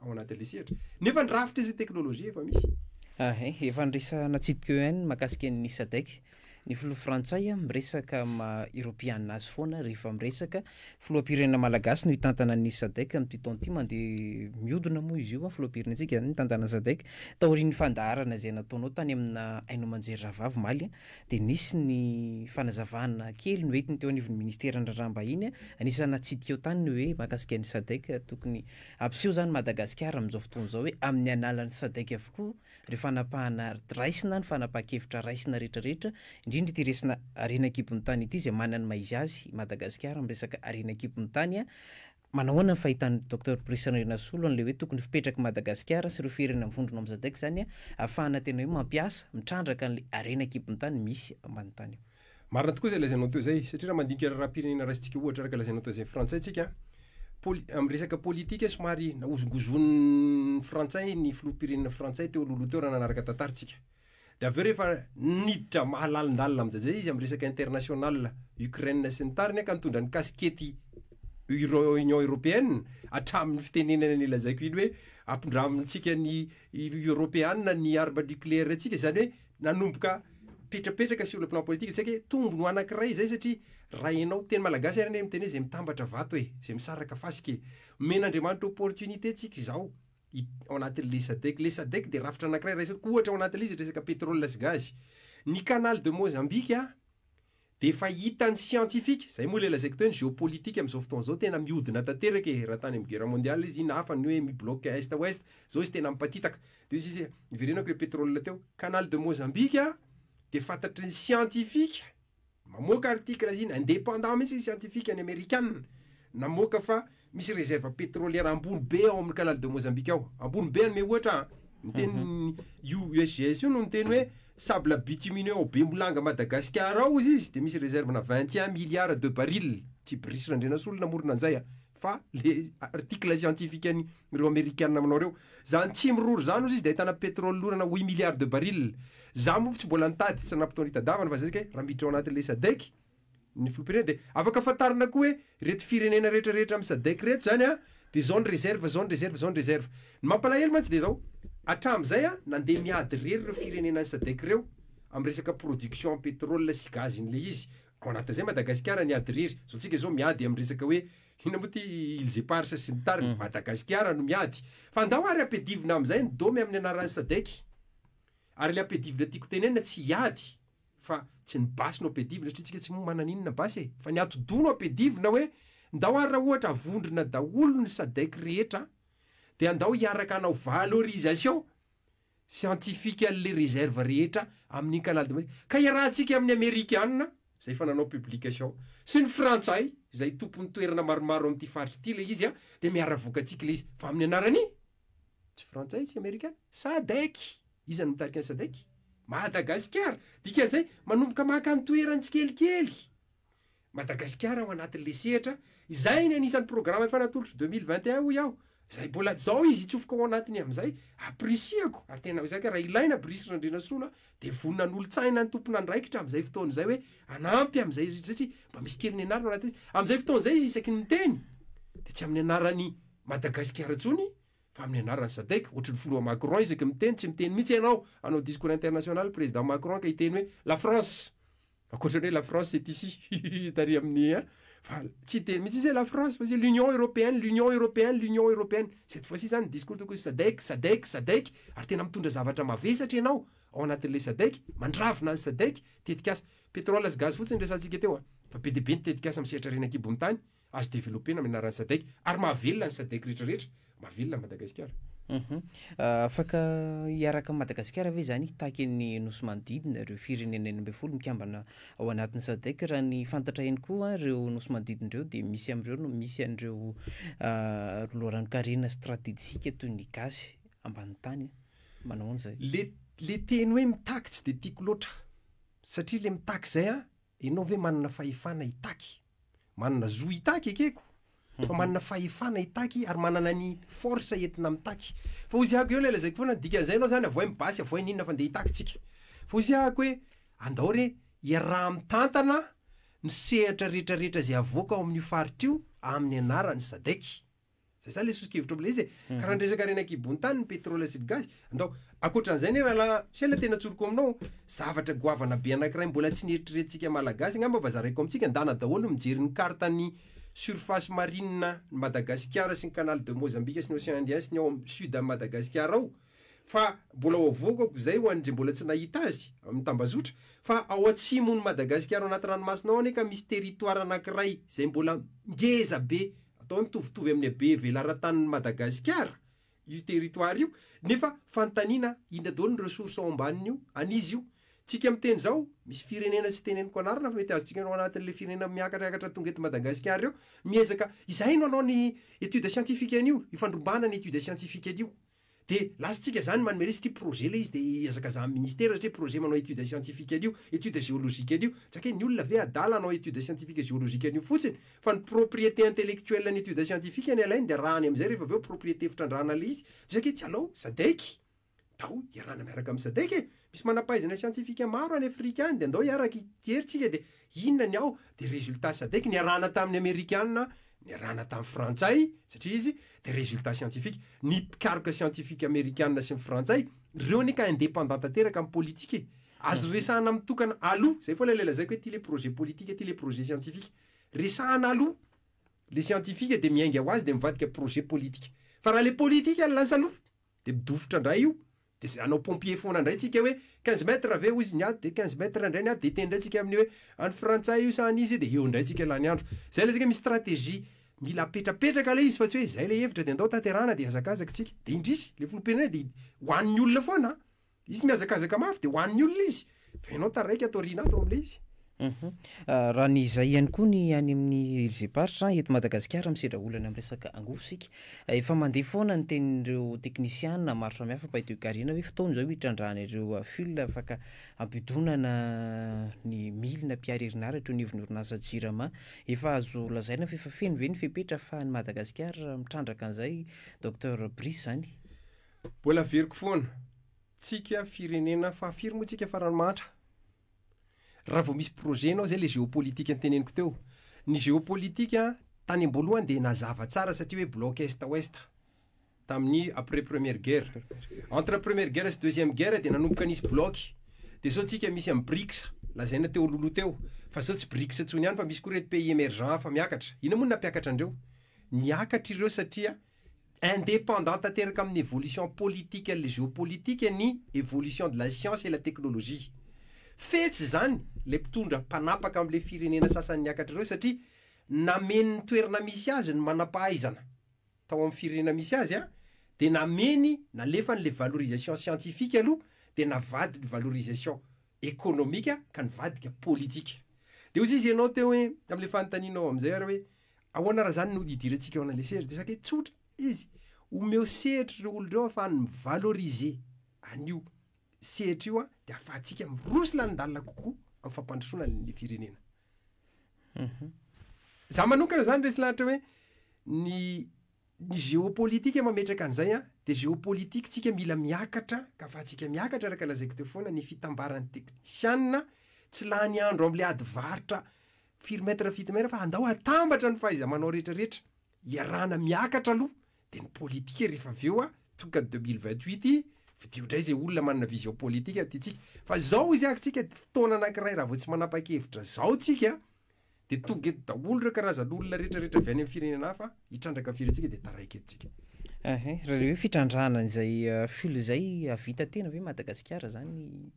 ao anatin'ilay sehatra, nefa ny rafitra sy ny teknolojia efa misy. Ahay, efa niresahana tsitiko eo ihany ny mahakasika ny Sadec. Ny filoha frantsay miresaka maha eropeana azy foana rehefa miresaka. Filoham-pirenena malagasy no hitantana ny Sadec amin'ity taona ity, mandeha mihodina moa izy io, filoham-pirenentsika izany mitantana ny Sadec. Taorian'ny fandaharana izay nataonao tany amina haino aman-jery rahavavy omaly dia nisy ny fanazavana kely noentiny teo anivon'ny ministeran'ny raharaham-bahiny, anisan'ny natsidika eo tany ny hoe mahakasika ny Sadec tokony Ampiseho izany Madagasikara amin'izao fotoana izao hoe amin'ny alalan'ny Sadec avokoa ireo fanapahana raisina, ny fanapahan-kevitra raisina rehetra rehetra, indrindra ity resina harena an-kibon'ny tany ity izay manana ny maha izy azy i Madagasikara amin'ny resaka harena an-kibon'ny tany. Manao ahoana ny fahitan'i Docteur Brice Randrianasolo an'ilay hoe tokony hipetrak'i Madagasikara sy ireo firenena mivondrona ao amin'ny Sadec izany ahafahana tena hoe mampiasa, mitrandraka an'ilay harena an-kibon'ny tany misy ambany tany eo. Marina tokoa izay lazainao teo izay, satria raha mandinika raharaham-pirenena raisintsika ohatra araka lazainao teo izay frantsay tsika, poli- amin'ny resaka politika somary nahozongozon'ny frantsay ny filoham-pirenena frantsay teo alohaloha teo raha nanaraka tantara tsika. Dia avy eo rehefa niditra mahalalindalina aminjajay izy amin'ny resaka international Ukraine sy ny tariny ka nitondra ny kasikety Euro- Union Européenne hatramin'ny fitenenana ny lazaiko iny hoe ampindramitsika ny Eoropeana ny arme nucléaire-tsika izany hoe nanomboka petrapetraka sur le plan politique tsy haiko hoe tombony ho anankiray izay satria raha ianao teny malagasy ary anie miteny hoe izay mitambatra vato e, izay misaraka fasika e, omen'Andriamanitra opportunité tsika izao ao anatin'le sadec, le sadec dia rafitra anankiray raisina, ohatra ao anatin'le izy resaka pétrole sy gaz, ny canal de Mozambique Dia efa hitan'ny siantifika, izay moa ilay lazaiko teo ny géopolitique amin'izao fotoana izao, tena mihodina tanteraka e, raha tany amin'ny guerre mondiale izy iny hafa ny hoe mi-bloque est ouest, izao izy tena mipatitaka. Dia hoy sisa, niverenako ilay pétrole teo, canal de Mozambique dia fantatry ny siantifika, mamoaka article izy iny, indépendant mihitsy ny siantifika ny amerikana, namoaka fa Misy réserve pétrolière ambony be ao amin'ny canal de Mozambique ao. Ambony be anome ohatra an. Ny teny io USGS io no niteny hoe sable bitumineux ao Bemolanga Madagasikara ao hozy izy dia misy réserve-na vingt et un milliards de barils. Tsy Brice Randrianasolo namorona an'izay an, fa le article scientifique an'ireo Amerikana manao ireo. Izany tsy miroro izany hozy izy dia ahitana pétrole lorana huit milliards de barils. Izaho moa tsy mbola nitady tsy nanampitonritadavana fa zay zay kay raha miditra ao anatin'ilay SADEC, ny filoham-pirenena dia afaka fantarina koa hoe ireto firenena rehetra rehetra amin'ny sadec ireto izany an dia izao ny reserve izao ny reserve izao ny reserve ny mampalahelo mantsy dia izao hatramin'izay an nandeha miady irery ireo firenena any sadec ireo amin'ny resaka production en pétrole sy gaz iny ilay izy ao anatin'izay Madagasikara niady irery izao antsika izao miady amin'ny resaka hoe inona moa ity îles éparses sy ny tariny Madagasikara no miady fa ndao ary ampiadivina amin'izay ny dômy amin'ny anaran'ny sadec ary ilay ampiadivina tiako tenenina tsy hiady fa tsy ny basy no ampiadivina satria tsika tsy moa manana inona basy e, fa ny atidoha no ampiadivina hoe ndao ary raha ohatra avondrona daholo ny sadec rehetra dia ndao hiaraka hanao valorisation scientifique anle reserve rehetra amininy canal de madie ka hiarahantsika aminy amerikana zay efa nanao publication sy ny frantsay zay tompony toerana maromaro amity faritra ity le izy a dia miaravoka antsika le izy fa aminy anarany Tsy frantsay tsy amerikana? Sadec! Iza no mitarika ny Sadec? Madagasikara! Dikan'izay, manomboka maka ny toerany tsikelikely! Madagasikara ao anatin'ilay sehatra, izay ny anisan'ny programa efa natolotro deux mille vingt et un hoy aho, izay mbola zao izy hitsofoka ao anatiny amin'izay, appricier-ko, ary tena izay ka raha ilaina Brice Randrianasolo a, dia vonona hanolotsaina ny tompon'andraikitra amin'izay fotoana izay hoe hanampy amin'izay satria mba misy kely nianarana ao anatin'izy, amin'izay fotoana izay izy isaky ny miteny dia tsy amin'ny anaran'ny Madagasikara intsony fa amin'ny anaran'ny Sadec, ohatry ny filoha Macron isaky ny miteny, tsy miteny mihitsy ianao hanao discours international président Macron ka hiteny hoe la France ankoatra ny hoe la France c'est ici hihihi tary amin'ny an fa tsy hiteny mihitsy izy hoe la France fa izy hoe l'union européenne, l'union européenne, l'union européenne cette fois ci zany ny discours tokony Sadec, Sadec, Sadec ary tena mitondra zavatra mavesatra ianao ao anatin'ilay Sadec, mandravona ny Sadec, tetikasa pétrole sy gaz fotsiny ny resahantsika teo an, fa be dia be ny tetikasa misehatra ary eny ankibon'ny tany, Azo developpena amin'ny anaran'ny Sadec ary mahavelona ny Sadec rehetra rehetra, mahavelona an'i Madagasikara. Uhum. Afaka hiaraka amin'i Madagasikara ve izany hitaky ny Nosy manodidina ireo firenena enina ambin'ny folo mikambana ao anatin'ny Sadec? Raha ny fantatra eny koa ireo Nosy manodidina ireo dia misy amin'ireo no misy an'ireo loharanon-karena stratejika toy ny gasy ambany tany. Manao ahoana izay? Le le teny hoe mitaky tsy dia tiako loatra satria le mitaky izay an, ianao ve manana fahefana hitaky? Manana zo hitaky ekeko fa manana fahefana hitaky ary manana ny force entina mitaky. Fa hoy zahako eo ilay lazaiko foana ny dikan'izay ianao zany avohay ny basy avohay ny inona fa ndeha hitaky tsika. Fa hoy zahako hoe andao re iaraha mitantana ny sehatra rehetra rehetra izay avoaka ao amin'io faritra io amin'ny anaran'ny sadec. Zay zany le soso-kevitro amin'ilay izy e. Mhm. Ka raha ndresaka harena an-kibon-tany ny pétrole sy ny gaz, andao ankoatran'izay anie rahalahy, sy hay le tena tsoriko aminao, zavatra goavana be anankiray mbola tsy nieritreretintsika malagasy angamba mba zaraiko amintsika, ndana daholo mijery ny carte ny surface marine ny Madagasikara sy ny canal de Mozambique sy ny océan indien sy ny ao am sud am Madagasikara ao, Fa mbola ao vokako izay ho an'ndry mbola tsy nahita azy, amin'ny tambazotra, fa ao atsimon'i Madagasikara ao anaty ranomasina ao anie ka misy territoire anankiray izay mbola ngeza be, atao mitovitovy amin'ny habe velaran-tanin'i Madagasikara io territoire io, nefa fanontaniana inona daholo ny ressources ao ambanin'io, an'iza io? Tsika miteny izao, misy firenena tsy teneniko anarana fa mety azontsika ao anatin'ilay firenena miakatrakatra tonga eto Madagasikara eo, miezaka, izahay no hanao ny étude scientifique an'io, ifandrombahana ny étude scientifique an'io. De lasa tsika zany manome resaka io projet le izy de iazakazahan'ny ministera satria projet manao étude scientifique an'io, étude géologique an'io, jakaina ny olona ve adala hanao étude scientifique géologique an'io fotsiny fa ny propriété intellectuelle ny étude scientifique ny alainy de arahany amizay rehefa avy eo propriété fitrandrahana le izy, isika etsy alou sadec ndao iarahana miaraka amin'ny sadec e, misy manampahaizana scientifique maro any afrika any de ndao iaraka ity hery tsika de Inona ny ao dia résultats sadec niarahana tamin'ny amerikana niarahana tamin'ny frantsay satria izy dia résultats scientifique ny mpikaroka scientifique amerikana sy ny frantsay reo anie ka indépendant tanteraka amin'ny politique e azo resahana mitokana aloha zay foana ilay lazaiko hoe ty le projet politique ty le projet scientifique resahana aloha le scientifique dia miainga ho azy dia mivadika projet politique fa raha le politique no lasa aloha Dia midofotra indray io, dia izay hanao pompier foana indray tsika hoe quinze mètres ve hoy izy ny ady dia quinze mètres indray ny ady dia hiteny indray tsika amin'ny hoe any frantsay io sa any izy io dia eo indray tsika laniandro. Izay ilay tsika misy stratégie mila apetrapetraka ilay izy fa tsy hoe izay ilay hevitra dia andao tanterahana dia hazakazaka tsika. Dia indrisy, ilay filoham-pirenena dia ho an'ny olona foana an! Izy mihazakazaka mafy dia ho an'ny olona izy, fa ianao taraiky ato aoriana ato amin'ilay izy. Raha ny izay ihany koa ny any amin'ny Ilzem-paritra, eto Madagasikara misedra olana amin'ny resaka angovo isika. Efa mandeha foana ny tenin'ireo teknisiana maro samihafa mpahay toekarena hoe fotoana izao hitrandrahana ireo fil afaka hampidonana ny milina mpihary herinaratra eo anivon'ny orinasa Jirama. Efa azo lazaina fa efa feno ve ny fepetra ahafahan'i Madagasikara mitrandraka an'izay Docteur Brice izany? Mbola averiko foana, tsika firenena fahafiry moa tsika farany mahantra? Raha vao misy projet anao zay le géopolitique niteneniko teo. Ny géopolitique tany amboalohany dia nazava tsara satria hoe bloc est ouest tamin'ny après première guerre. Entre première guerre sy deuxième guerre dia nanomboka nisy bloc. Dia zao tsika misy an'i Brics lazaina teo alohaloha teo. Fa zao tsy Brics intsony ihany fa misy koa reto pays emergents hafa miakatra. Inona moa no nampiakatra andreo? Niakatra ireo satria Indépendant tanteraka amin'ny évolution politique et géopolitique ny évolution de la science et la technologie. Fetsy izany ilay mpitondra mpanapaka amin'ilay firenena sasany niakatra ireo satria nameny ny toerana misy azy ny manam-pahaizana tao amin'ny firenena misy azy an, dia nameny, nalefany ilay valorisation scientifique aloha dia navadiny ny valorisation économique ka nivadika politique. Dia hoy izy ianao teo hoe, tamin'ilay fanontanianao amin'izay ary hoe, Ahoana raha izany no hidirantsika eo an'ilay sehatra? Dia sakay tsotra izy, omeo sehatra ireo olona ireo ahafahany mi-valoriser an'io sehatra io, dia ahafahantsika miroso lanin-dalana kokoa amin'ny fampandrosoana an'ilay firenena. Mhm. Za manokana zany resy lahatra hoe ny ny géopolitique mametraka an'izay an, dia géopolitique tsika mila miakatra ka afahantsika miakatra araka lazaiko teo foana ny fitambaran'ny teknisianina, tsy lany andro amin'ilay ady varotra Firy mètre firy mètre fa andao atambatra ny fahaiza-manao rehetra rehetra, iarahana miakatra aloha dia ny politique rehefa avy eo tonga deux mille vingt huit fidio indray izay olona manana vision politique tia tsika fa izao izy atsika fotoana anakiray raha vao tsy manapa-kevitra izao tsika dia tonga eto daholo ireo karazan'olona rehetra rehetra avy any amin'ny firenena hafa hitrandraka firy antsika dia taraiky eto tsika. Ehe, raha le hoe fitrandrahana izay euh, fil izay avita tena ve Madagasikara zany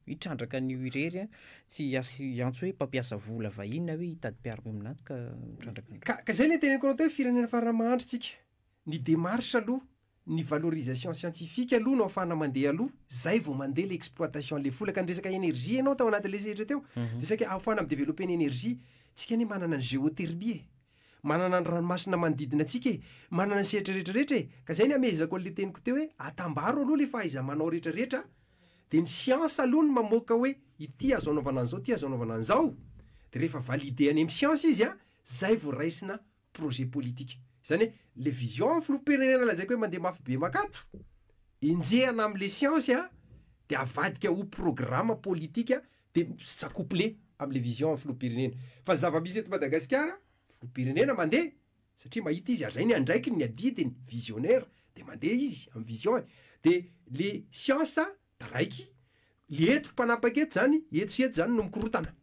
hitrandraka an'io irery a, tsy hiantso hoe mpampiasa vola vahiny na hoe hitady mpiaro-miombon'ato ka mitrandraka an'ireo. Ka, ka zay le teneniko anao teo, firenena farany mahantra tsika. Ny démarche aloha, Ny valorisation scientifique aloha no afahana mandeha aloha, zay vao mandeha ilay exploitation an'ilay vola. Ka niresaka énergie ianao tao anatin'ilay sehatra teo, dia saika ahafahana mi-developper ny énergie. Tsika anie manana ny géothermie e! Manana ny ranomasina manodidina antsika e! Manana ny sehatra rehetra rehetra e! Ka zay ny hamehezako an'ilay teniko teo hoe, atambaro aloha ilay fahaiza-manao rehetra rehetra, dia ny siansa aloha no mamoaka hoe ity azo anaovana an'izao, ity azo anaovana an'izao, dia rehefa valider any amin'ny siansa izy an, zay vao raisina projet politique. Izany hoe, le vision filoham-pirenena lazaiko hoe mandeha mafy be makato, enjehana am le science a, de avadika ho programa politika de s'accoupler am le vision filoham-pirenena. Fa zava-misy eto Madagasikara, filoham-pirenena mandeha, satria mahita izy ary zay ny andraikiny, ny adidiny, visionnaire, de mandeha izy am vision-ny. De le science Taraiky le eto mpanapaka eto zany eto sy eto zany no mikorotana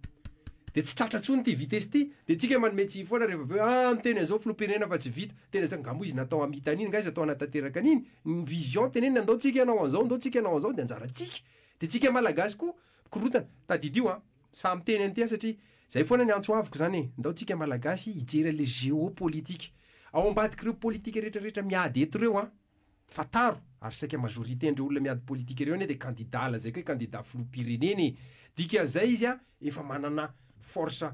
de tsy tratra tsony ty vitesse ty de tsika manome tsiny foana refa aveo ah miteny anzao filopirenena fa tsy vita tena zany nga mo izy natao hamita aniny nga izy atao hanatanteraka aniny ny vision teneniny andao tsika anao anzao andao tsika anao anzao de anjara tsika de tsika malagasy ko mikorotana tadidio a sahy miteny anty a satria zay foana ny antso aviko zany e ndao tsika malagasy hijery anle geo politika ao ambadikireo politika retraretra miady eto reo a. Fantaro ary saika majorité ndreo olona miady politika ireo anie dia candidat lazaiko hoe candidat filoham-pirenena e! Dikan'izay izy efa manana force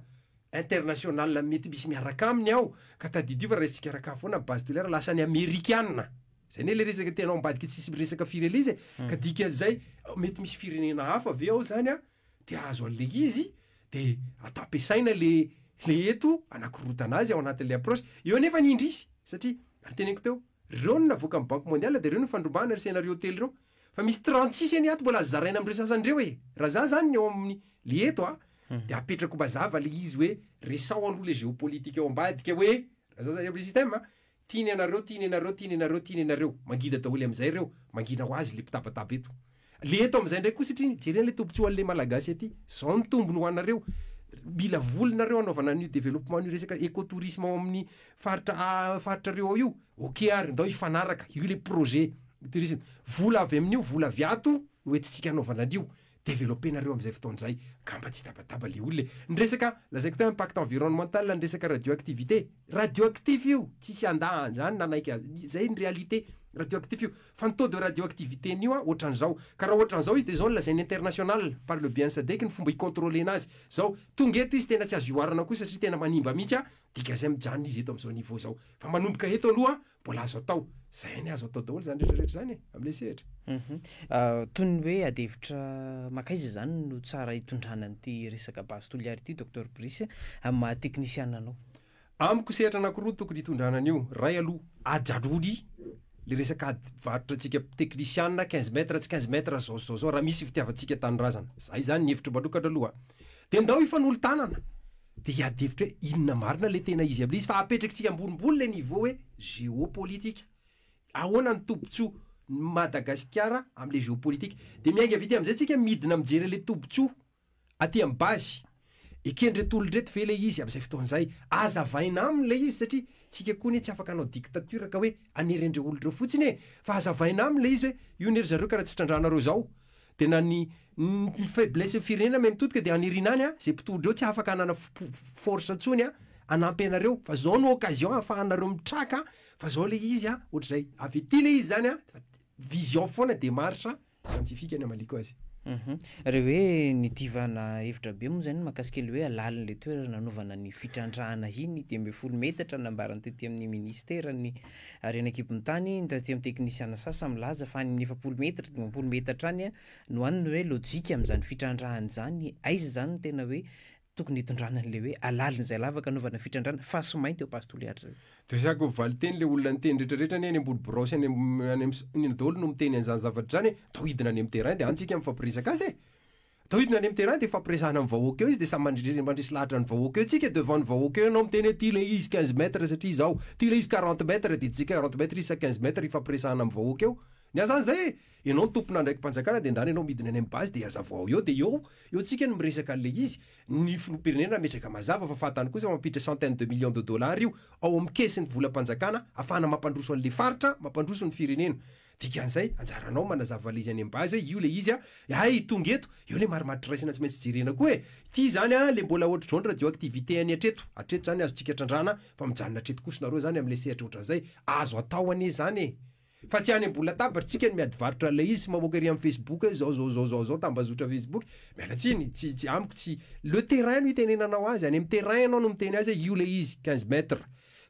internationale mety misy miaraka aminy ao ka tadidio fa raisintsika arak'afo foana base tolère lasa any amerikana! Zay anie le resaka tianao ambadika tsisy miresaka fireleza e! Ka dikan'izay mety misy firenena hafa ve ao zany te hahazo an'le izy de atao ampiasaina le le eto hanakorontana azy ao anatin'le approche eo anefa ny indrisy satria ary teneniko teo Reo no navoaka ny banque mondiale de reo no fandrobahana ry scenario telo reo fa misy trente six anie ato mbola azo zaraina amreo sasany reo e raha za zany ny ao aminy le eto a de apetrako mazava le izy hoe resaho aloha le geopolitique ao ambadika hoe raha za zany amle système a tiany anareo tiany anareo tiany anareo tiany anareo mangina daholo amzay reo mangina ho azy le mpitabataba eto Le eto amizay ndray koa sitriny jereo le tompon-tsoa anle malagasy aty zao ny tombony ho anareo mila vola nareo hanaovana an'io developpement an'io resaka eco tourisme ao amin'ny faritra a faritrareo ao io ok ary ndao hifanaraka io le projet tourisme vola avy amin'io vola avy ato no entintsika hanaovana an'io developper nareo amizay fotoana izay angamba tsy hitabataba le olona e ny resaka lazaiko teo impact environnemental ny resaka radio activité radio actif io tsisy andà anzany nanaiky a zay ny réalité radio actif io Fa ny taux de radioactivité an'io an, ohatran'izao. Ka raha ohatran'izao izy dia izao no lazain'ny international, par le bien sadec, ny fomba hi-contrôler-na azy. Izao, tonga eto izy tena tsy azo ihoarana koa satria tena manimba mihitsy an, dia gazem mijanona izy eto amin'izao niveau izao. Fa manomboka eto aloha an, mbola azo atao. Izay anie azo atao daholo izany rehetrarehetra izany e, amin'ilay sehatra. Hum. Toy ny hoe adihevitra makaiza izany no tsara hitondrana an'ity resaka base Toliary ity Docteur Brice, amin'ny maha teknisiana anao? Amiko sehatra anakiroa tokony hitondrana an'io, ray aloha ajarory le resaka ady varotra antsika teknisiana quinze mètres tsy quinze mètres zao sy zao zao raha misy fitiavantsika tanindrazana, za izany ny hevitro manokana aloha a! de ndao hifanolo-tanana de hiady hevitra hoe inona marina le tena izy amin'le izy fa apetrakitsika ambonimbony le niveau hoe géopolitique ahoana ny tombotsoa ny Madagasikara amle géopolitique de miainga vita amzay tsika midina mijery anle tombotsoa Aty am base. Ekendreto olona ireto ve ilay izy amin'izay fotoana izay? Azavaina aminy ilay izy satria tsika koa anie tsy afaka hanao dictature ka hoe hanery an'ireo olona ireo fotsiny e! Fa azavaina aminy ilay izy hoe io anie ry zareo ka raha tsy trandrahanareo izao dia na ny ny faiblessin'ny firenena may mitodika dia haniriana any an! izay mpitodra eo tsy afaka hanana force intsony an! hanampy anareo fa izao no occasion ahafahanareo mitraka fa izao ilay izy an! ohatr'izay. Avy aty ilay izy izany an! vision foana, démarche. siantifika ny amaliako azy. Uhum. Re hoe nidivana hevitra be moa izay ny makasika ilay hoe halalin'ilay toerana nanaovana ny fitrandrahana iny dimy ambin'ny folo metatra nambarany tety amin'ny minisiteran'ny harena an-kibon'ny tany ny taty amin'ny teknisiana sasa milaza fa any amin'ny efapolo metatra dimampolo metatra any no any ny hoe lojika amin'izany fitrandrahana izany aiza izany no tena hoe Tokony hitondrana an'ilay hoe halalina izay lavaka anaovana fitrandrahana fa tsy mainty eo Passe tous les âges zay. Resako valiteny ilay olona niteny rehetra rehetra anie any ambony birao sy any any iny daholo no miteny an'izany zavatra izany e, atao hidina any amin'ny terrain dia any tsika mifampiresaka azy e! Atao hidina any amin'ny terrain dia hifampiresahana amin'ny vahoaka eo izy dia samy mandresy lahatra ny vahoaka eo tsika devant ny vahoaka eo ianao miteny hoe ty ilay izy quinze mètres satria izaho, ty ilay izy quarante mètres dia tsika quarante mètres izy sa quinze mètres hifampiresahana amin'ny vahoaka eo. Ny azy any izay e! Enao tompon'andraiki-panjakana de ndany enao midina any am base de hazavao ao eo de eo eo tsika no miresaka an'le izy, ny filoham-pirenena ametraka mazava fa fahatany kosa mampiditra centaine de millions de dollars io ao am caisses-ny volam-panjakana afahana mampandroso an'le faritra, mampandroso ny firenena. Dikan'izay anjaranao manazava le izy any am base hoe io le izy a, hay tonga eto, eo le marimaritra raisina tsy maintsy jerena koa e, ty zany a le mbola ohatr'izao ny radioactivité any hatreto, hatreto zany azontsika trandrahana fa mijanona hatreto kosa nareo zany am'le sehatra ohatran'izay, azo atao anie zany e. Fa tsy any ambony latabatra tsika no miady varotra ilay izy sy mamoaka ery am facebook hoe zao zao zao zao zao tambazotra facebook miala tsiny tsy tsy amiko tsy le terrain no itenenanao azy any am terrain ianao no miteny azy hoe io ilay izy quinze mètres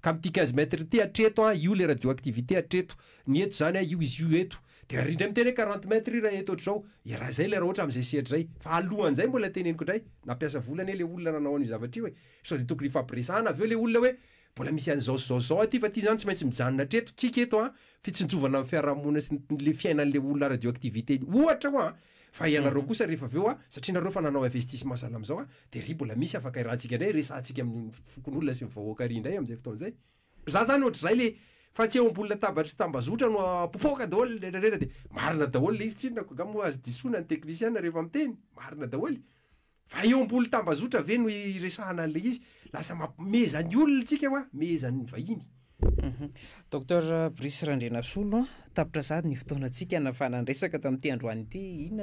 ka amty quinze mètres ity hatreto an io ilay radio activité hatreto ny eto zany an io izy io eto de ry indray miteny hoe quarante mètres io raha eto otrzao iaraha zay ilay raha ohatra amzay sehatra zay fa alohan zay mbola teneniko indray nampiasa vola anie le olona nanao anio zavatra io e sao de tokony hifampiresahana avy eo le olona hoe Mbola misy an'izao sy izao sy izao aty fa ity izany tsy maintsy mijanona hatreto tsika eto an, fitsinjovana ny fiarahamonina sy ny le fiainan'le olona radioactivité ohatra hoa fa ianareo kosa rehefa avy eo an, satria nareo efa nanao investissement sahala amin'izao an, dia ry mbola misy afaka iarahantsika indray resahantsika amin'ny fokonolona sy ny vahoaka ary indray amin'izay fotoana izay. Za zany ohatr'izay le fa tsy eo ambony latabatra sy tambazotra no popoka daholo le rera dia marina daholo le izy tsinona ko nga moa azo disoina ny teknisiana rehefa miteny, marina daholo e. Fa eo ambony tambazotra ve no iresahana an'ilay izy? Lasa mampimehezaha ny olona isika hoa, mehezan'ny vahiny. Docteur Brice Randrianasolo, tapitra sahady ny fotoanantsika nafana ny resaka tamin'ity androany ity. Inona no.